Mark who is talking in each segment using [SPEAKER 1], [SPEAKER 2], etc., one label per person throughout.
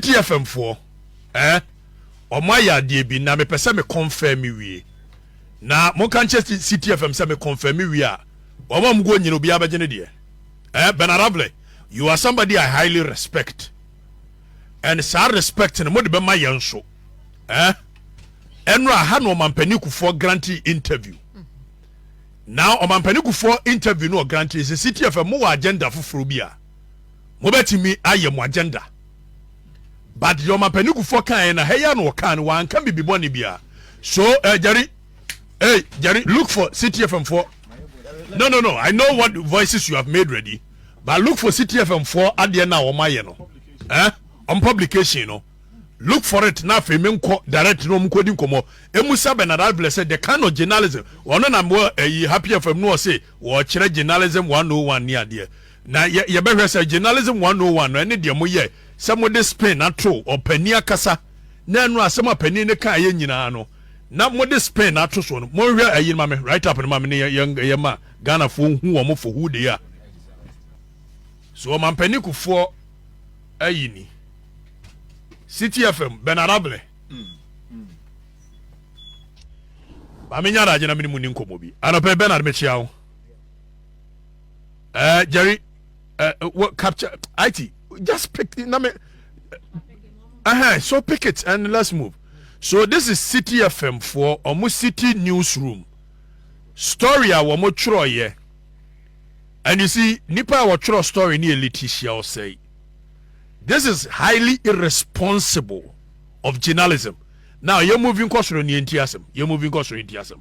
[SPEAKER 1] DFM foɔ eh ɔmo ayɛ adeɛ bi na mepɛ sɛ me confirm me wie na monka nkyɛ City FM sɛ me confirm me wie a wɔn a wɔguo nyina obiara bɛgye ne deɛ eh Bernard Avle you are somebody I highly respect and saa respect no mode bɛma yɛn nso eh ɛnora ha na ɔmampanin kufoɔ grante interview na ɔmampanin kufoɔ interview no ɔgrante sɛ City FM mo wɔ agenda foforɔ bi a mobɛtumi ayɛ mo agenda but deɛ ɔmapanikufoɔ kaeɛ na ha yi ano ɔkaa no wanka bibi bɔne biara so ɛ eh, gyari hey gyari look for ctfm foɔ no no no i know what voices you have made ready but look for ctfm foɔ adeɛ na wɔn ayɛ no ɛ eh? on publication no look for it na afei me nkɔ direct na wɔn kɔdi nkɔmɔ emu sa bernard advile sɛ the kind of journalism ɔno na mo ɛyi eh, happy fm no ɔse wɔkyerɛ journalism one oh one ne adeɛ. Na yɛ yɛbɛhwɛ sɛ journalism 101 no ɛne deɛ moyɛ sɛ mode spin ato ɔpanin akasa na ɛno asɛm a panin no kaeɛ nyinaa no na mode spin ato so no monhwɛ ayi no ma me write up no ma me ne yɛ ma Ghanafoɔ nhu wɔn for who they are so ɔmampanin kufoɔ ayi ni City FM Benarable maame nya adagye na mene mu ni nkɔmmɔ bi anɔpɛ Bernard mekyia wo uh, jerry uh, uh, what capture it just pick na me uh-huh, so pick it and let's move so this is city fm for ɔmo city newsroom story a wɔn twerɛeɛ and you see nipa a wɔtwerɛ story ne yɛ letitia ɔsɛe this is highly irresponsible of journalism now yɛ moving kɔ soro ne yɛn ti asɛm yɛ moving kɔ soro yɛn ti asɛm.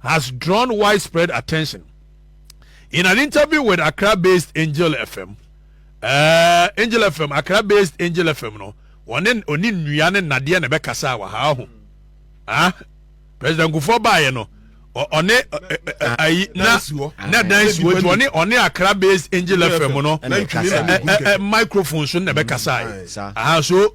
[SPEAKER 1] has drawn widespread attention. In an interview with Accra-based Angel FM, uh, Angel FM, Accra-based Angel FM no, wɔne ɔne nnua ne nnadeɛ na ɛbɛkasa wɔ ha ho. Ah, President Kufuor baeɛ no, ɔne ayi na na dan si hɔ nti ɔne ɔne Accra based Angel FM no microphone so na ɛbɛkasa yi. Aha so.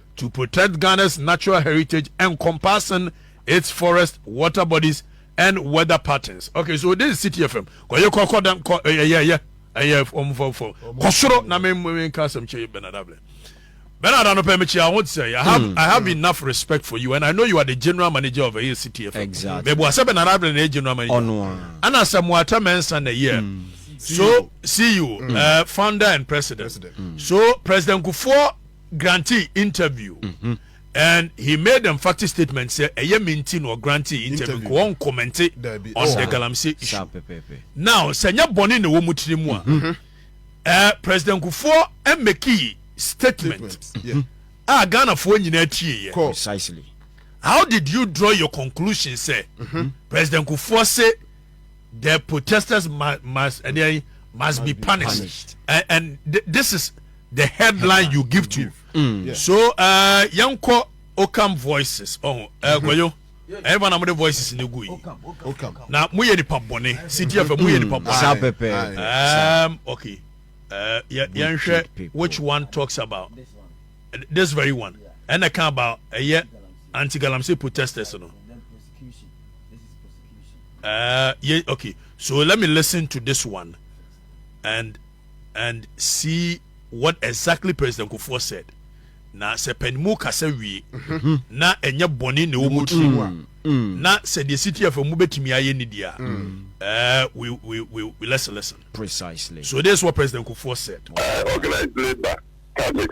[SPEAKER 1] to protect Ghana's natural heritage encompassing its forests, water bodies and weather patterns. Okay, so this is Citi FM. Kɔ ye kɔ kɔ dan kɔ ɛyɛ ɛyɛ ɛyɛ ɛyɛ ɔmo fɔ fɔ kɔ soro na mi mi nka asɛm kyɛ Bernard Abule. Bernard anɔpɛ mi kyia ho sɛ I have mm, I have mm. enough respect for you and I know you are the general manager of ɛyɛ Citi FM. Exactly. Mɛbu asɛ Bernard Abule
[SPEAKER 2] na ɛyɛ
[SPEAKER 1] general manager. Ɔno a. Ɛna sɛ mo atɛ mɛnsa na ɛyɛ. Mm. so CEO, mm. uh, founder and president. president. Mm. So President Kufuor grantee interview mm-hmm. and he made emphatic statement sɛ ɛyɛ me nti na ɔgrantee interview nka wɔn kɔmɛnte on the galamsey issue now sɛ nyɛ bɔne na ɛwɔ mu tiri mu a mm-hmm. eh, president kufoɔ mmeki statement a ghanafoɔ nyinaa tie yɛ
[SPEAKER 2] how
[SPEAKER 1] did you draw your conclusion sɛ mm-hmm. president kufoɔ se the protesters must, must, uh, they must, be punished, punished. And, and th- this is the headline, you give to mm. yes. so uh, yɛnkɔ ocam voices oh, uh, mm-hmm. gwayo ɛyɛma na mode voices no gu yi na moyɛ nipa bɔne ctf moyɛ nipa bɔne um, okay uh, yɛnhwɛ which one talks about this very one ɛna ka about ɛyɛ anti galamsey protesters no Uh, yeah, okay. So let me listen to this one and and see what exactly President Kufuor said. Na sɛ panimu kasa wie mm-hmm. na ɛnyɛ bɔne na ɛwɔ mu tiri mu a mm-hmm. na sɛ deɛ siti afɛ mu bɛtumi ayɛ ne deɛ a uh, we, we, we, we let's listen. Precisely. So this
[SPEAKER 2] is what President
[SPEAKER 1] Kufuor said. Uh, organized labor,
[SPEAKER 3] CAMEX,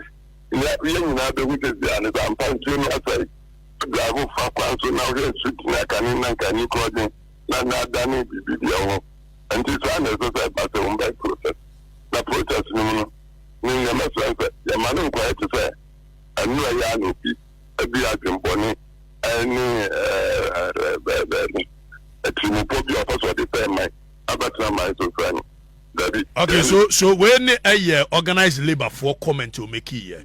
[SPEAKER 3] yɛ nyinaa bɛhu sɛ deɛ ne ba mpa nsuo no asɛe. Biako fa kwan so na wohwɛ sut na kane na nkani korɔgyen na na adane biribi deɛ ho. Ɛnti saa na ɛsɛ sɛ ɛba sɛ wobae protest. Na protest no mu no, ne nea mɛsrɛ ne sɛ yɛmma no nkɔyɛ te sɛ ɛnora yi a na obi adi adwenbɔne ne atirimpɔ bi a ɔpɛ sɛ ɔde bɛn man abɛtena man so sɛ no. Dabi. Okay,
[SPEAKER 1] so so wei ne ɛyɛ organized labour foɔ comment o make yɛ.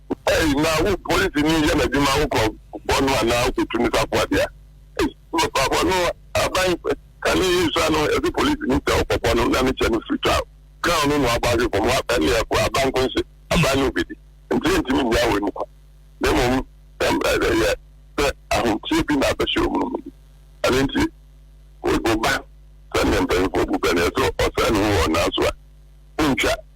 [SPEAKER 3] Ei na wo polisi ni yɛ n'adwuma wo nkurɔfoɔ no anaa wokɔtu ne safoa de a ei papafoɔ no aban kane yɛ sua no yɛse polisi ni sɛ ɔkɔbɔ no na ne kyɛ no firi twa crown no na wabɔ ahwe fam wa ɛne ɛko aban nko nhyɛ aban ne obedi nti ɛntimi nnya wei mu kwa na mmom ɛm ɛdɛ yɛ sɛ ahomteɛ bi na abɛhyɛ ɔmu no mu bi ɛne nti wo ba sɛneɛ mpanyinfoɔ bu bɛneɛ sɛ ɔsɛe ne ho wɔ ɔnaa so a wontwa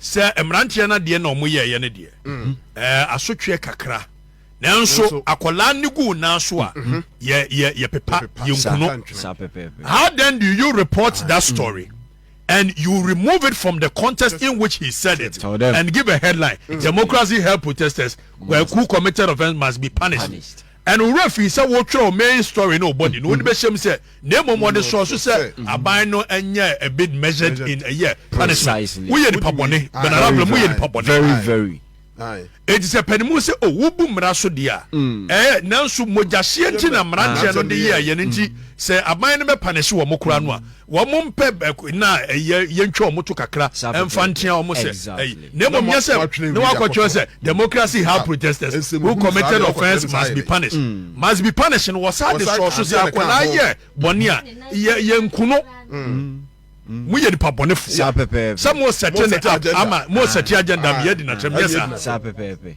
[SPEAKER 1] sɛ mmeranteɛ no adeɛ na ɔmo yɛɛyɛ no deɛ mhm. ɛɛ asotweɛ kakra nanso akwadaa no gu nan so a mhm. yɛ yɛ yɛ pepa yɛ nkuno how then do you report ah, that mm. story. Mm. and you remove it from the context in which he said it and give a headline mm. democracy help protesters who committed offence must be punished. punished. Ɛno wo werɛ fii sɛ wotwerɛ wo main story ne wo body no, wode bɛhyɛ mu sɛ, na mmom wɔde sɔɔ so sɛ aban no nyɛ a bit measured in ɛyɛ punishment. Woyɛ nipa bɔne, Ben Arable, moyɛ nipa bɔne.
[SPEAKER 2] Enti sɛ
[SPEAKER 1] panimu sɛ o wobu mmara so deɛ a, ɛɛ, nanso mogyahyeɛ nti na mmeranteɛ no de yɛɛyɛ no nti sɛ aban no bɛpanehye wɔn koraa no a, Wɔn mpɛ bɛk na ɛyɛ yɛntwa wɔn to kakra ɛmfa nkyɛn wɔn sɛ ɛyi na mmom nyɛ sɛ na wakɔtwerɛ sɛ democracy ha protesters who committed offence must be punished mm. must be punished no wɔsa de sɔɔ so sɛ akwadaa yɛ bɔne a yɛ yɛ nkuno mm. Mm. mo yɛ nipa bɔne fo sɛ mo sɛte ne ama mo sɛte agenda mi yɛ di na kyɛm yɛ saa.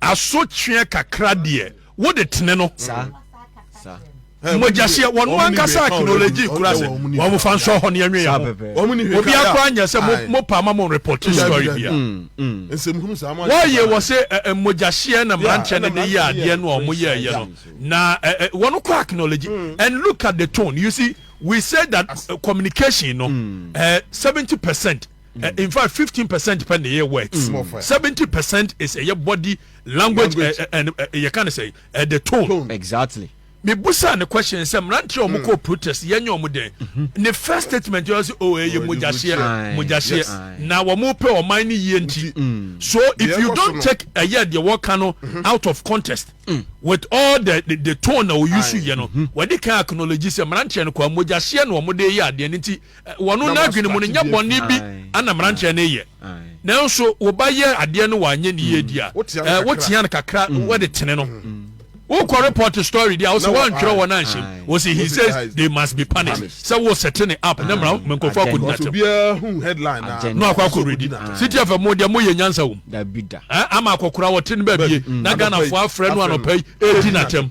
[SPEAKER 3] Asotweɛ kakra deɛ wo de tene no. Mogyahyeɛ wɔn ankasa acknowledge kura sɛ wɔn fa nsɔ hɔ ne ɛnwe yɛ ho obi akora nyɛ sɛ mo pa ama mo report story bia mm, mm. wɔyɛ wɔ se mogyahyeɛ na mmeranteɛ no de yɛ adeɛ no a wɔn yɛ ɛyɛ no na wɔn kɔ acknowledge mm. and look at the tone you see we say that uh, communication no uh, seventy percent Uh, in fact, 15 percent pen the words, mm. 70 percent is a body language, language. Uh, and uh, you can say uh, the tone. tone. Exactly. Me
[SPEAKER 2] busa the
[SPEAKER 1] question sɛ mmeranteɛ a wɔkɔ protest yɛn nyɛ wɔn dɛn mm-hmm. ne first statement yɛ sɛ o ɛyɛ mogyahyeɛ mogyahyeɛ na wɔn pɛ ɔman ne yie nti mm. so if you don't take ɛyɛ deɛ wɔka no mm-hmm. out of context mm. with all the the, the tone na wɔyi so yɛ no wɔde kan acknowledge sɛ mmeranteɛ no kɔ mogyahyeɛ na wɔn de yɛ adeɛ ne ti. Mm. Wɔn n'adwene mu no, nyɛ bɔne bi na mmeranteɛ no reyɛ. Nanso wo ba yɛ adeɛ no wanyɛ ne yie di a, wotea no kakra, mm. wode tene no. Mm. wokɔ report story deɛ wosɛ woantwerɛ wɔn anhyɛ mu wɔsɛ he says they must be punished sɛ wo sɛte ne app ne mmara menkɔfo akɔdi natɛm
[SPEAKER 4] na akɔ akɔredi
[SPEAKER 1] city fm mo deɛ moyɛ nyansa wom ama
[SPEAKER 2] akɔkora wɔte
[SPEAKER 1] no baabie na ghanafoɔ afrɛ no anɔpa yi ɛdi natɛm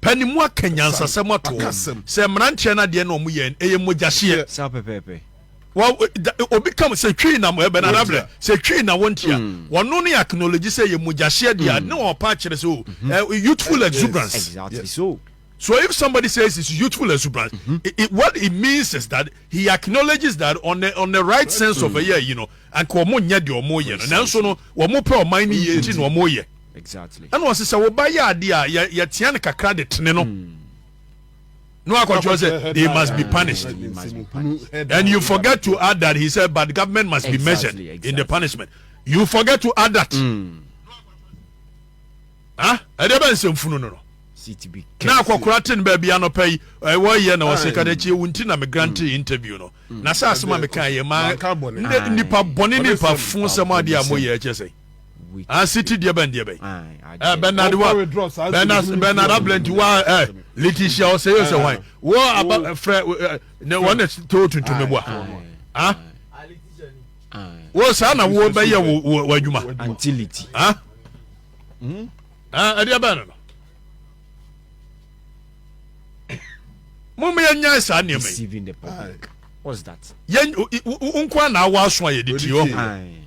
[SPEAKER 1] Pa ne mu aka nyansasɛm ato hɔ sɛ mmeranteɛ no adeɛ na wɔn yɛ no ɛyɛ mogyahyeɛ. saa pɛpɛɛpɛ.
[SPEAKER 2] Wa
[SPEAKER 1] obi kam sɛ twii na mo ɛbɛn adabrɛ sɛ twii na wɔn tia hmm. wɔn no ne acknowledge sɛ yɛ mogyahyeɛ deɛ hmm. ne wɔn pa akyerɛ sɛ o hmm. eh, youthful exuberance. Exactly
[SPEAKER 2] so. So if somebody
[SPEAKER 1] says it's youthful exuberance, mm-hmm. it, it, what it means is that he acknowledges that on the on the right sense mm-hmm. of a year, you know, and wɔn nyɛ deɛ wɔn yɛ no, nanso no wɔn pɛ ɔman ne yie nti na wɔn yɛ. Ɛna ɔse
[SPEAKER 2] sɛ woba
[SPEAKER 1] yɛ adeɛ a yɛ yɛtea no kakra de tene no na wakɔtwerɛ sɛ they must be punished and you forget to add that he said but government must be measured in the punishment you forget to add that mm. ah ɛdeɛ bɛ nsɛmfunu no no na akɔkora te no baabi anɔpa yi wɔyɛ na wɔsɛ ka dakyi wo nti na me grante mm. interview no mm. na sɛ asɛm a meka yɛ ma nnipa bɔne nipa fo sɛm adeɛ a moyɛ kyɛ sɛ ah city deɛ bɛn deɛ bɛn eh bernard wa bernard bernard ablanti wa eh letitia ɔsɛ yɛ sɛ hwan wɔ aba frɛ ne wɔn na to tuntum ne boa ah wɔ saa na wɔ bɛyɛ wɔ wɔ adwuma antiliti ah ɛdeɛ bɛn no mo mo yɛ nyan saa nneɛma yi
[SPEAKER 2] yɛn
[SPEAKER 1] nko a na awa aso a yɛde ti hɔ.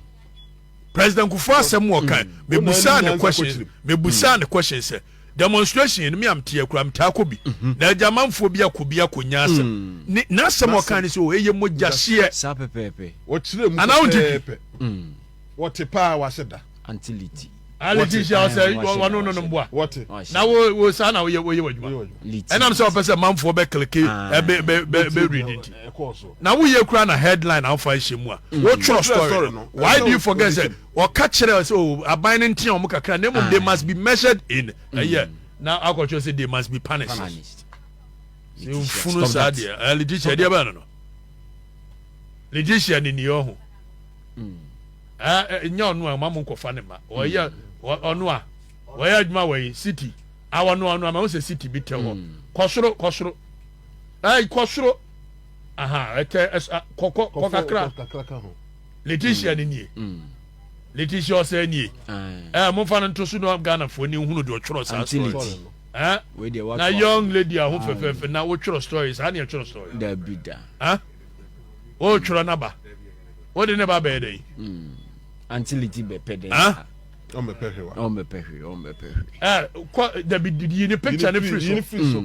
[SPEAKER 1] president kufu asɛm mu ɔka mm. mebusaa ne question mebusaa mm. ne question sɛ demonstration yɛn mi am tia kura mi taa kɔ bi mhm. na agya amanfoɔ bi akɔ bi akɔ nya asɛm mm. ne n'asɛm ɔka ne sɛ o eye mogya hyeɛ saa pɛpɛɛpɛ
[SPEAKER 2] wɔkyerɛ mu
[SPEAKER 4] pɛpɛɛpɛ
[SPEAKER 1] wɔte
[SPEAKER 4] paa wasɛ da antiliti
[SPEAKER 1] aliti hyɛ ɔsɛ wɔn no no mboa wɔte na wo
[SPEAKER 4] wo saa
[SPEAKER 1] na woyɛ woyɛ wɔ adwuma ɛnam sɛ ɔpɛ sɛ manfoɔ bɛ kilike ɛbɛ bɛ bɛ bɛ redi nti. Na wo yɛ kura na headline a ɔfa ahyɛ mu a wo twerɛ story no why do you forget sɛ ɔka kyerɛ sɛ o aban no ntea wɔn kakra na mmom they must be measured in ɛyɛ na akɔtwerɛ sɛ they must be punished mfunu saa deɛ ɛyɛ letitia deɛ bɛyɛ no no letitia ne ni ɔho ɛɛ nyɛ ɔno a ɔma mo nkɔfa ne ma ɔyɛ ɔno a ɔyɛ adwuma wɔ yi city awɔ no ɔno a ma ho sɛ city bi tɛ hɔ kɔsoro kɔsoro ɛɛ kɔsoro. aha ɛtɛ ɛsa kɔ kɔ kɔ kakra kakra ka ho leticia ni nie leticia ɔsɛ nie ɛɛ mo fa no nto so na ghana fo ni hunu deɛ ɔtwerɛ saa story ɛɛ na young lady aho fɛfɛɛfɛ na wotwerɛ story saa ni ɛtwerɛ story dabi da
[SPEAKER 2] ɛɛ
[SPEAKER 1] wotwerɛ naba wode ne ba bɛyɛ dɛ yi anti
[SPEAKER 2] leti bɛpɛ dɛ ɛɛ ɔmbɛpɛ
[SPEAKER 4] hwe wa ɔmbɛpɛ hwe ɔmbɛpɛ hwe ɛɛ kɔ
[SPEAKER 1] dabi yi ni picture ne firi so.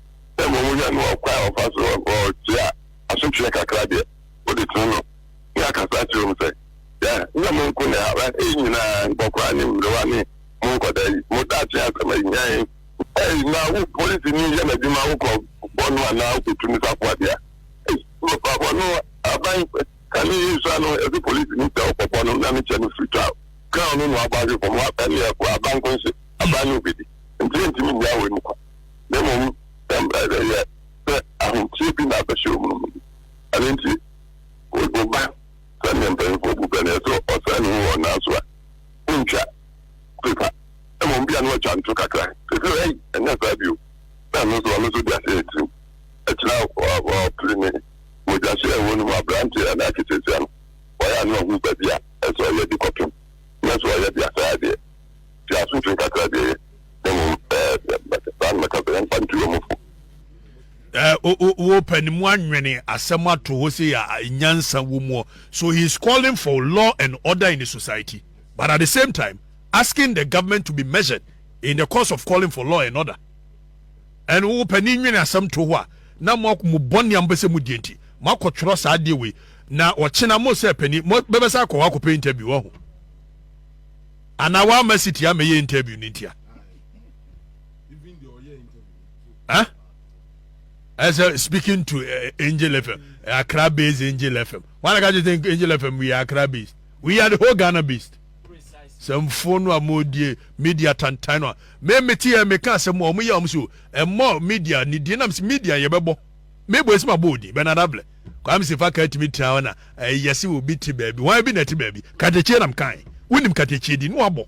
[SPEAKER 3] sɛ mmom wohwɛ no wɔ ɔkwan a ɔfa so tua asotweɛ kakra deɛ, wode tene no ne akasa akyerɛ mu sɛ, Hwɛ, nyɛ mo nko na ɛhaw ha yi nyina ara, nkɔkoraa ne mmerewa ne mo nkɔdaa yi, mo daakye asɛm ayi hia yɛn. Ei, na wo polisini yɛ n'adwuma wokɔ bɔ no anaa wokɔtu no safoa deɛ a, ei, mpaabɔ no aban ka ne yere sua no, ɛse polisini sɛ ɔkɔ bɔ no na ne kyɛ no firi twa crown no na wabɔ ahwe fam, wapɛ ne ɛko a, abankonhye, aban ne obɛdi, nti yɛntumi nnya wei mu kwa. na mmom sɛ mmerɛ bɛyɛ sɛ ahoteɛ bi na abɛhyɛ wɔn mu no. Ɛno nti, wo ba, sɛdeɛ mpanimfoɔ bu pɛ no, ɛsɛ sɛ ɔsra ne ho wɔ ɔnaa so a ɔntwa pepa, mmom bi a na watwa nto kakra. Seesei ɔyɛ ei, ɛnyɛ saa bio, na ɛno nso ɔno nso de ahyɛ ne tirim. Akyire a ɔpere ne mogya hyɛɛ wɔn mu aberanteɛ anaa ketesia no, ɔyɛ a na wahu baabi a ɛsɛ sɛ ɔyɛ de kɔpem, na sɛ ɔyɛ de a saa deɛ, Te ase mfiri nka
[SPEAKER 1] kyerɛ adeɛ yɛ, na mmom mɛka saa na mɛka sɛ yɛmfa ntu wɔn fo. Wopɛ ne mu anwene asɛm ato hɔ sei a nyansa wɔ mu. So he is calling for law and order in the society but at the same time asking the government to be measured in the course of calling for law and order. And wopɛ ne nwene asɛm to hɔ a na mo bɔne a mopɛ sɛ mo die nti moakɔtwerɛ saa adeɛ wei na ɔkyena mo sɛ pani mobɛbɛsa akɔ hɔ akɔpɛ interview wahu. Anaa wama sitia mɛyɛ interview no ntia eh? as a speaking to uh, Angel FM, uh, Accra based Angel FM. Why can't you think Angel FM? We are Accra based. We are the whole Ghana based. Some phone wa mo die media tantan no. Me me tie me ka some mo ye omso. E mo media ni die na media ye bebo. Me bue si ma bɔ odin Bernard Abler Kwame Sefa ka tumi tena hɔ na ɛyɛ eh, se obi te baabi hwan bi na ɛte baabi katekyie nam kan wonim katekyie din no abɔ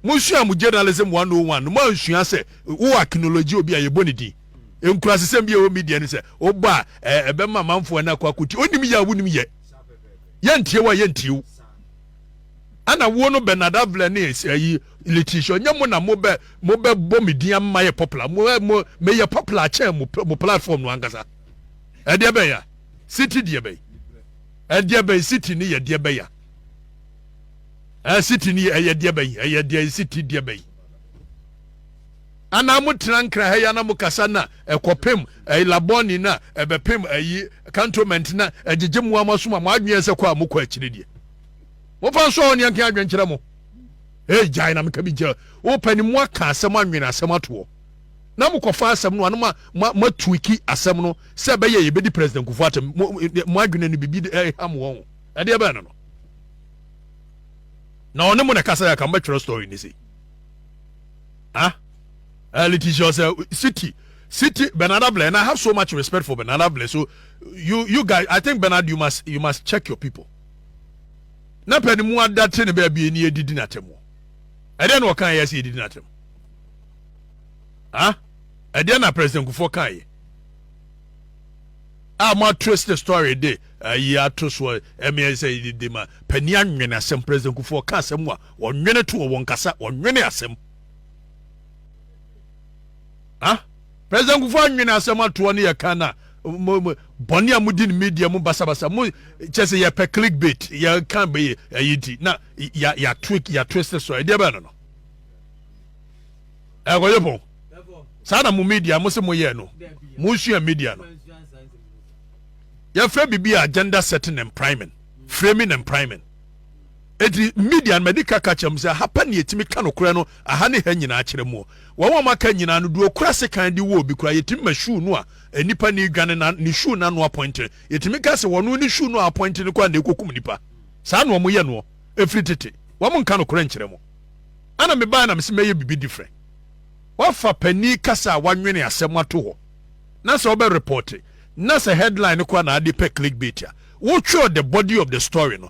[SPEAKER 1] mosua mo journalism 101 no moansua sɛ wo akinology obi a yɛbɔ ne din nkurasesɛm bi a ɛwɔ media no sɛ wobɔ a ɛbɛma amanfoɔ no akɔ akɔti onim yɛ a wonim yɛ yɛntie wo a yɛntie wo ana wo no Bernard Abler ne ɛyi Letitia, ɔnyɛ mo na mobɛ mobɛbɔ me din ama yɛ popular. Mo eh, mo meyɛ popular akyɛn mo mo platform no ankasa. Ɛdeɛ bɛn ya? City deɛ bɛn? Ɛdeɛ bɛn city ne yɛ deɛ bɛn ya? Ɛɛ city ne ɛyɛ deɛ bɛn? Ɛyɛ deɛ city deɛ bɛn? Ana mo tena nkra ha ya na mo kasa na ɛkɔpem ɛyi labɔni na ɛbɛpem ɛyi cantonment na ɛgyegye mo ama soma mo adwene sɛ kɔ a mo kɔ akyire deɛ. Mo fa nso a ɔne ɛnka adwenkyerɛ mo. ee gyae na meka bi gya wopɛ ne mu aka asɛm anwene asɛm atoɔ na mokɔfa asɛm no ano ma matuiki asɛm no sɛ ɛbɛyɛ yɛbɛdi president kufu atam mo adwene no biribi ɛham eh, wɔn ɛdeɛ bɛn no no na ɔne mo na ɛkasa yɛ aka mbɛtwerɛ story ne sei ah uh, Letitia sɛ city city Bernard Ablair and I have so much respect for Bernard Ablair so you you guys I think Bernard you must you must check your people na pɛ ne mu ada te ne baabi ani adidi n'atam wɔ ɛdeɛ na ɔka yɛ sɛ yɛdidi n'atam ah ɛdeɛ na president kufoɔ ka yɛ a ah, mo atwist the story de ayi ah, ato soɔ ɛmeɛ eh, sɛ yɛdidi ma pani anwene asɛm president kufoɔ ka asɛm a wɔnwene to wɔ wɔn kasa wɔnwene asɛm ah President Kufuor anwene asɛm atoɔ no yɛka na mo bɔne a modi no media mu basabasa mo kyɛ sɛ yɛpɛ clickbait yɛka bɛyɛ ɛyi nti na yɛatwik yɛatwist so ɛdeɛ bɛɛ no no ɛkɔyɛ pɔn saa na mo media mo se moyɛ no mosua media no yɛfrɛ biribi a agenda setting and priming framing and priming Enti Midian madi ka ka kyerɛ mo sɛ, Hapa ne yɛtumi ka nokorɛ no aha ne ha nyinaa kyerɛ moɔ. Wɔn a wɔaka nyinaa no, deɛ ɔkura sekan de wɔ obi koraa, yɛtumi ma shoe no a nnipa nni dwane no, ne shoe no ano apɔintene. Yɛtumi ka sɛ, Ɔno ne shoe no a apɔintene kɔ a na ɛkɔkum nnipa. Saa na wɔyɛ noɔ ɛfiri tete. Wɔnka nokorɛ nkyerɛ mo. Ana mebaeɛ na mese mɛyɛ biribi different? Wafa panin kasa a wanwene asɛm ato hɔ. Na sɛ wobɛ report na sɛ headline no koraa na ade pɛ clickbait a, wotwerɛ the body of the story no,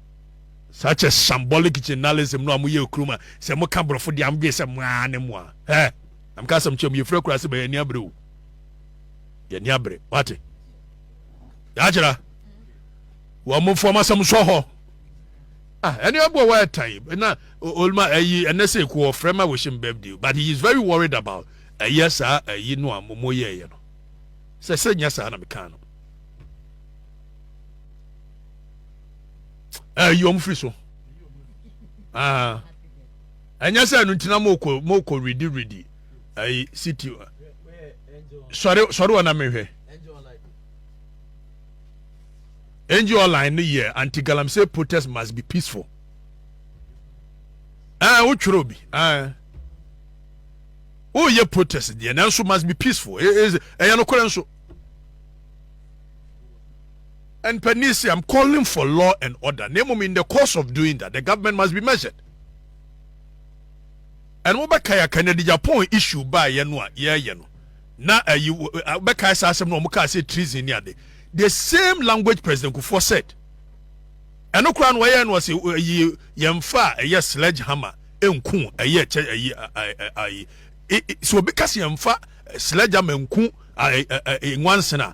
[SPEAKER 1] such a shambolic journalism no a moyɛ okuru ma sɛ moka borɔfo deɛ amdwene sɛ moa ne moa ɛ na meka asɛm kyerɛ mu yɛfiri akura se bɛyɛ ani abere o yɛni abere wate yɛakyerɛ wɔn mofo ɔmo asɛm sɔ hɔ ah ɛne ɔboɔ wɔ ɛtan na olma ɛyi ɛnɛ sɛ ɛkɔ ɔfrɛ ma wɔhyɛ birthday but he is very worried about ɛyɛ saa ɛyi no a momo yɛɛyɛ no sɛ sɛ nyɛ saa na mekaa no ɛyi wɔn firi so ah. ɛnyɛ sɛ ɛno ntina mokɔ mokɔ redi redi ɛyi city sɔre sɔre wɔn na mehwɛ angel online no yɛ anti galamsey protest must be peaceful ɛɛ wotwerɛ obi ɛɛ woyɛ protest deɛ nanso must be peaceful ɛyɛ nokorɛ nso. And Panisi, I'm calling for law and order na mmom in the course of doing that the government must be measured. And wobɛkae a Kennedy Japon issue baeɛ no a yɛɛyɛ no na ayi wobɛkae saa asɛm no wɔn kaa sɛ treason ne ade the same language President Kufuor said ɛno koraa no wɔyɛ no ɔse ɛyi yɛmfa a ɛyɛ sledge hammer nku ɛyɛ kyɛ ɛyi ɛyi sɛ obi ka sɛ yɛmfa sledge hammer nku nwansena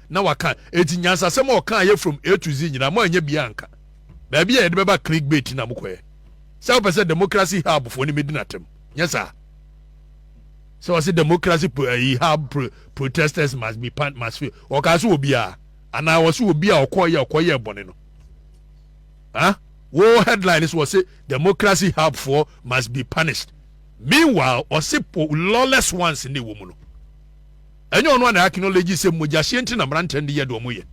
[SPEAKER 1] na waka enti nyansasɛm a ɔkaa yɛ from A to Z nyinaa mo anyɛ biaa anka baabi a yɛde bɛba click bait na mokɔɛ sɛ wopɛ sɛ democracy hub foɔ ne medi no atɛm nyɛ saa sɛ ɔse democracy ayi hub pro, protesters must be pan must fail ɔkaa so wɔ biaa anaa ɔse wɔ bi a ɔkɔyɛ ɔkɔyɛ bɔne no ah wo headline so ɔse democracy hub foɔ must be punished meanwhile ɔse po lawless ones ne wɔ mu no Ɛnyɛ ɔno a na acknowledge sɛ mogyahyeɛ nti na mmeranteɛ no de yɛ deɛ wɔyɛ.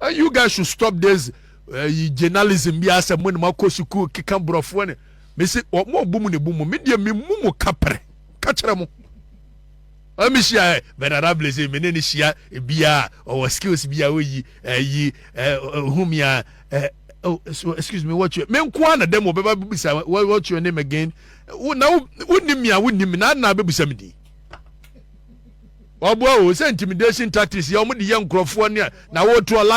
[SPEAKER 1] And you guys should stop this ɛyi eh, journalism bi asɛ mo ne makɔ sukuu keka borɔfoɔ ne mesi ɔmo ɔbu mu ne bu mu me deɛ me mu mu ka pere ka kyerɛ mo ɛmi hyia ɛ bɛdara blaze me ne ne hyia bia ɔwɔ skills bia oyi ɛyi ohun mi a ɛ oh so excuse me what you me nko ara na dɛm ɔbɛba bisa what your name again wo na wo nim mi a wo nim mi na na bɛbisa mi din. wɔboa o sɛ intimidation tactics yɛ wɔn de yɛ nkurɔfoɔ ne na wɔtoɔ